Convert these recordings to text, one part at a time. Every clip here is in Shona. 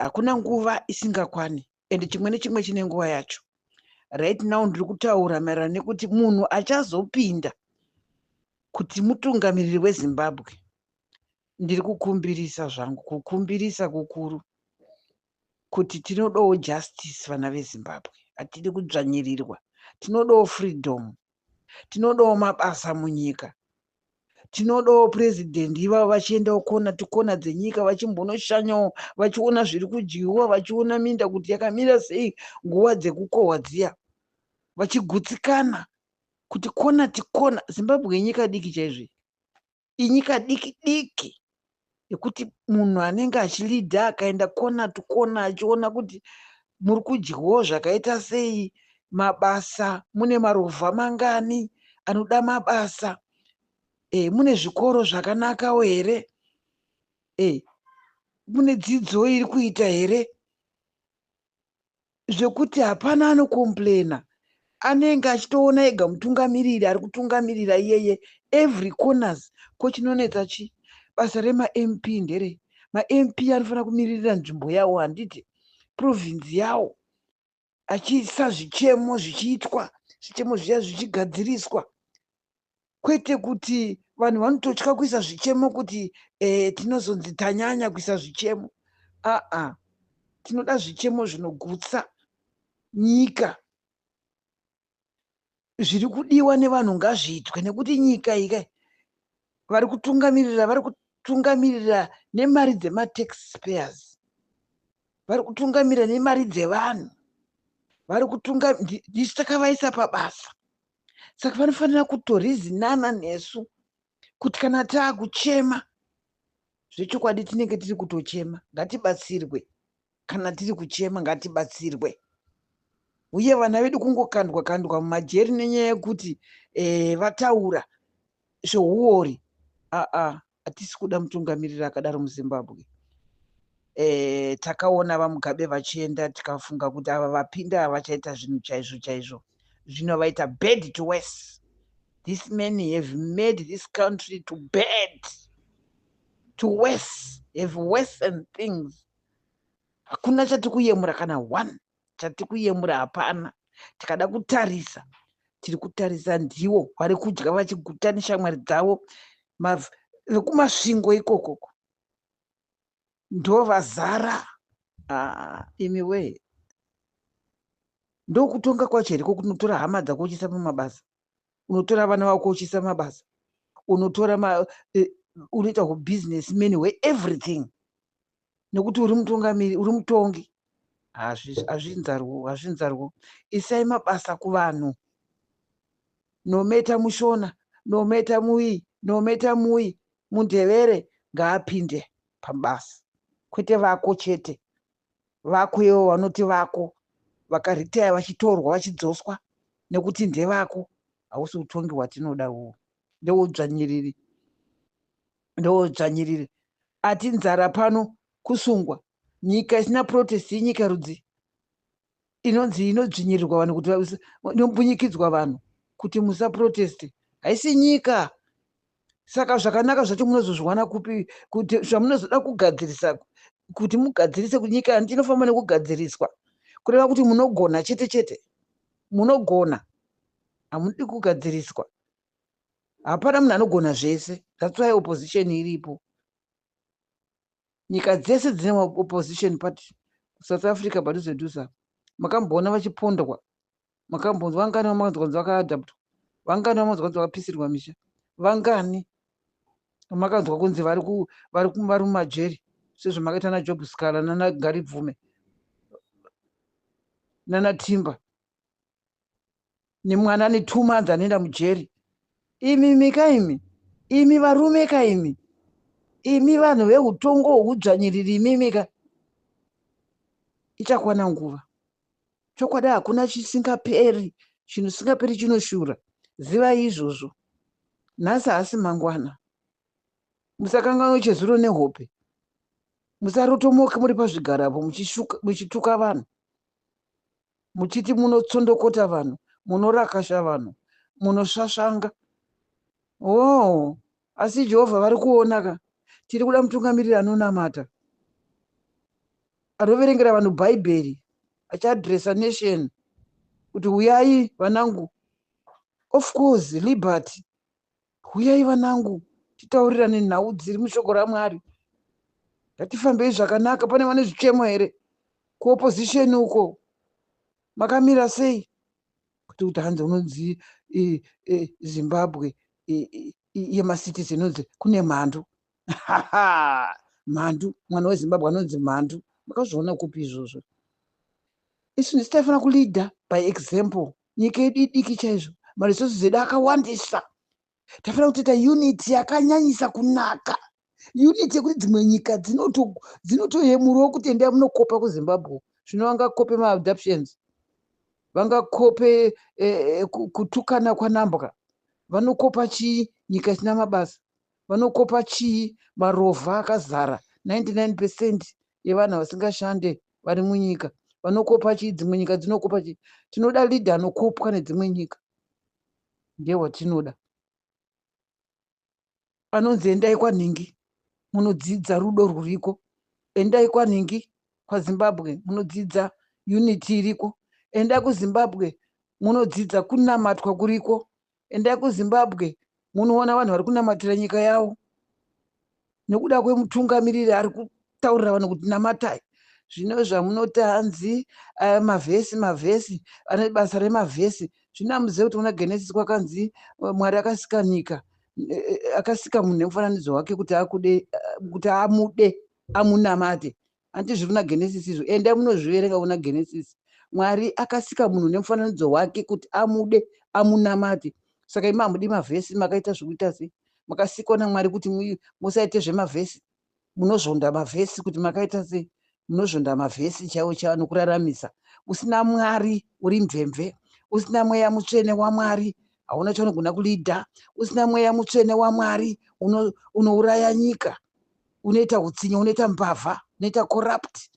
hakuna nguva isingakwani and chimwe nechimwe chine nguva yacho right now ndiri kutaura maererano nekuti munhu achazopinda kuti mutungamiriri wezimbabwe ndiri kukumbirisa zvangu kukumbirisa kukuru kuti tinodawo justice vana vezimbabwe hatidi kudzvanyirirwa tinodawo freedom tinodawo mabasa munyika tinodawo purezidhendi ivavo vachiendawo kona tikona dzenyika vachimbonoshanyawo vachiona zviri kudyiwa vachiona minda kuti yakamira sei nguva dzekukohwa dziya vachigutsikana kuti kona tikona zimbabwe yenyika diki chaizvei inyika diki diki yekuti munhu anenge achilidha akaenda kona to kona achiona kuti muri kudyawo zvakaita sei mabasa mune marovha mangani anoda mabasa e, mune zvikoro zvakanakawo here e, mune dzidzo iri kuita here zvekuti hapana anocomplaina anenge achitoona ega mutungamiriri ari kutungamirira iyeye every corners ko chinonetsa chi basa remamp ndere mamp anofanira kumiririra nzvimbo yawo handiti provinzi yawo achiisa zvichemo zvichiitwa zvichemo zviya zvichigadziriswa kwete kuti vanhu vanototya kuisa zvichemo kuti eh, tinozonzi tanyanya kuisa zvichemo aa tinoda zvichemo zvinogutsa nyika zviri kudiwa nevanhu ngazviitwe nekuti nyika ika vari kutungamirira vari kutungamirira nemari dzematax payers vari kutungamirira nemari dzevanhu vari kutunga ndisu takavaisa pabasa saka vanofanira kutorizinana nesu kuti kana taakuchema zvechokwadi tinenge tiri kutochema ngatibatsirwe kana tiri kuchema ngatibatsirwe uye vana vedu kungokandwa kandwa mumajeri nenyaya yekuti eh, vataura zveuori aa hatisi kuda mutungamiriri akadaro muzimbabwe e, takaona vamugabe vachienda tikafunga kuti ava vapinda havachaita zvinhu chaizvo chaizvo zvino vaita bad to wes this man have made this country to bad to wes have wesen things hakuna chatiri kuyemura kana one chatikuyemura hapana tikada kutarisa tiri kutarisa ndiwo vari kudya vachiguta neshamwari dzavo vekumasvingo ikokoko ndovazara ah, imi wee ndokutonga kwacho here kokunotora hama dzako uchisa pamabasa unotora vana vako uchiisa mabasa unotora ma, uh, unoita hubusiness man hweeverything nekuti uri mutungamiri uri mutongi hazvinzarwo hazvinzarwo isai mabasa kuvanhu nometa mushona nometa muyi nometa muyi mundevere ngaapinde pabasa kwete vako chete vako ivo vanoti vako vakaritaya vachitorwa vachidzoswa nekuti ndevako hausi utongi hwatinoda uwo ndewoudzvanyiriri ndewoudzvanyiriri ati nzara pano kusungwa nyika isina protest inyika rudzii inonzi inodzvinyirirwa vanhu kuti inombunyikidzwa vanhu kuti musaproteste haisi nyika saka zvakanaka zvacho munozozviwana kupi kuti zvamunozoda kugadzirisa kuti mugadzirise kunyika yanti inofamba nekugadziriswa kureva kuti munogona chete chete munogona hamudi kugadziriswa hapana munhu anogona zvese that's why opposition iripo nyika dzese dzine opposition party south africa padhuze dhuze apa makamboona vachipondwa makambonzwa vangani vamanzwa kunzi vakaadaptwa vangani vamanzwa kunzi vakapisirwa misha vangani makanzwa kunzi vari vari vari mumajeri sezvamakaita najob scala nanagaribvume nanatimba nemwana ne two months anoenda mujeri imi mika imi imi varume ka imi imi vanhu veutongo hwekudzvanyiriri imimika ichakwana nguva chokwadi hakuna chisingaperi chinhu singaperi chinoshura zivai izvozvo nhasi haasi mangwana musakanganwe chezuro nehope musarotomoke muri pazvigarapo muchituka vanhu muchiti munotsondokota vanhu munorakasha vanhu munosvasvanga oh asi jehovha vari kuona ka tiri kuda mutungamiriri anonamata anoverengera vanhu bhaibheri achiadresa nation kuti huyai vanangu of course liberty huyai vanangu titaurirane nhau dziri mushoko ramwari ngatifambei zvakanaka pane vane zvichemo here kuopposition uko makamira sei kuti kuti hanzi unonzi zimbabwe yemacitizen unonzi kune mhandu mhandu mwana wezimbabwe anonzi mhandu makazviona kupi izvozvo isu ndisu taifanira kuleader by example nyika yedu idiki chaizvo maresources edu akawandisa tafanira kutoita unity yakanyanyisa kunaka unity yekuti dzimwe nyika dzinotoyemurawo kuti endai munokopa kuzimbabwe zvino vangakope maadoptions vangakope eh, eh, kutukana kwanambwa vanokopa chii nyika isina mabasa vanokopa chii marovha akazara 99 percent yevanhu vasingashande vari munyika vanokopa chii dzimwe nyika dzinokopa chii tinoda leader anokopwa nedzimwe nyika ndewatinoda anonzi endai kwanhingi munodzidza rudo rwuriko endai kwanhingi kwazimbabwe munodzidza unity iriko endai kuzimbabwe munodzidza kunamatwa kuriko Endai kuZimbabwe munoona vanhu vari kunamatira nyika yavo nokuda kwemutungamiriri ari kutaurira vanhu kuti namatai zvino zvamunoti hanzi eh, mavhesi mavhesi ane basa remavhesi zvino amuzive kuti muna genesis kwakanzi eh, mwari akasika nyika eh, akasika munhu nemufananidzo wake kuti akude kuti amude amunamate Hanti zviri muna Genesis izvo? Endai munozviverenga muna Genesis. Mwari akasika munhu nemufananidzo wake kuti amude, amunamate. Saka imi hamudi mavhesi makaita zvekuita sei? Makasikwa naMwari kuti musaite zvemavhesi. Munozvonda mavhesi kuti makaita sei? Munozvonda mavhesi chaiwo chaiwo anokuraramisa. Usina Mwari uri mvemve. Usina mweya mutsvene waMwari hauna chaunogona kulidha. Usina mweya mutsvene waMwari unouraya nyika. unoita utsinye unoita mbavha unoita corrupt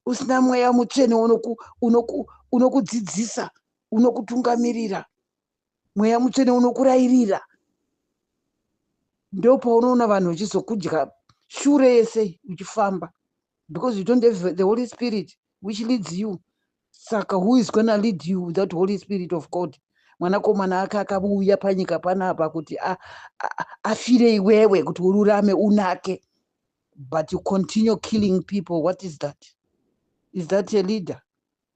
usina mweya mutsvene unokudzidzisa unoku, unoku unokutungamirira mweya mutsvene unokurairira ndo paunoona vanhu vachizokudya shure yese uchifamba because you don't have the holy spirit which leads you saka who is gonna lead you without holy spirit of god mwanakomana ake akavuuya panyika panapa kuti afire iwewe kuti ururame unake but you continue killing people what is that is that a leader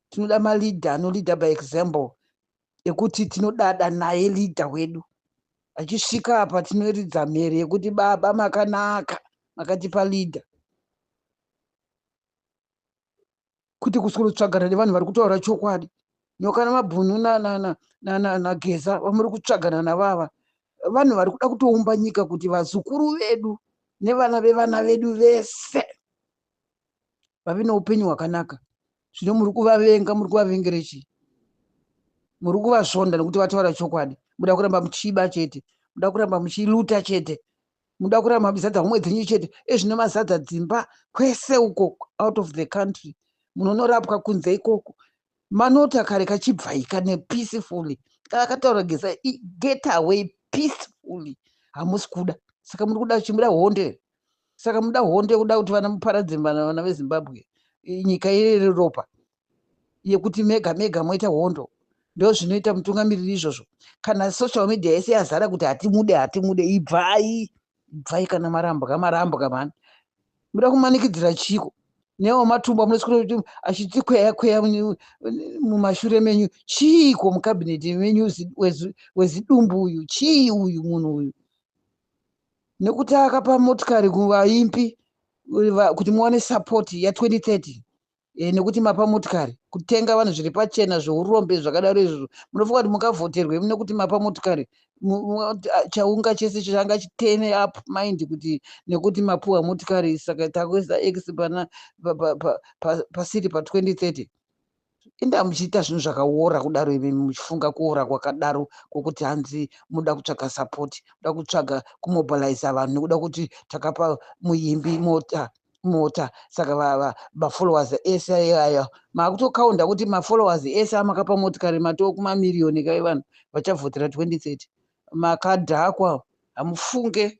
tinoda maleader anoleader by example ekuti tinodada naye leader wedu achisvika apa tinoridza mhere yekuti baba makanaka makatipa leader kuti kuswero tsvagana nevanhu vari kutaura chokwadi nokana mabhunu nageza vamuri kutsvagana navava vanhu vari kuda kutoumba nyika kuti vazukuru vedu nevana vevana vedu vese vave neupenyu hwakanaka zvino muri kuvavenga muri kuvavengere chii muri kuvasvonda nekuti vataura chokwadi muda kuramba muchiba chete muda kuramba muchiluta chete muda kurara mapi zadza homwe dzenyu chete ezvino mazadza dzimba kwese uko out of the country munonorapwa kunze ikoko manota kare kachibvaika nepeacefully kana kataura geza get away peacefully hamusi kuda saka muri kuda chimuda honde saka muda honde kuda kuti vana muparadze vana vezimbabwe nyika iri ropa yekuti mega mega moita hondo ndozvinoita mutungamiriri izvozvo kana social media yese yazara kuti hatimude hatimude ibvai ibvai kana marambwa marambwa mani muda kumanikidzira chiko newo matumbu amunoswira kuti achitikweya kweya mumashure menyu chiiko mukabineti menyu wezidumbu uyu chii uyu munhu uyu nekuti akapa motikari kuvaimbi kuti muwane sapoti ya 2030 e, nekuti mapa motikari kutenga vanhu zviri pachena zveurombe zvakadaro izvozvo munofunga kuti mungavhoterwe mune kuti mapa motikari chaunga chese changa chitene up mind kuti nekuti mapuwa motikari saka takuisa x pana pasiri pa 2030 inda muchiita zvinhu zvakaora kudaro imi muchifunga kuora kwakadaro kwokuti hanzi munoda kutsvaga sapoti muda kutsvaga kumobiliza vanhu nekuda kuti takapa muimbi mota mota saka mafollowers ese ayo makutokaunda kuti mafollowers ese amakapa motikari matoo kumamiriyoni kai vanhu vachavhotera 2030 makadhakwa hamufunge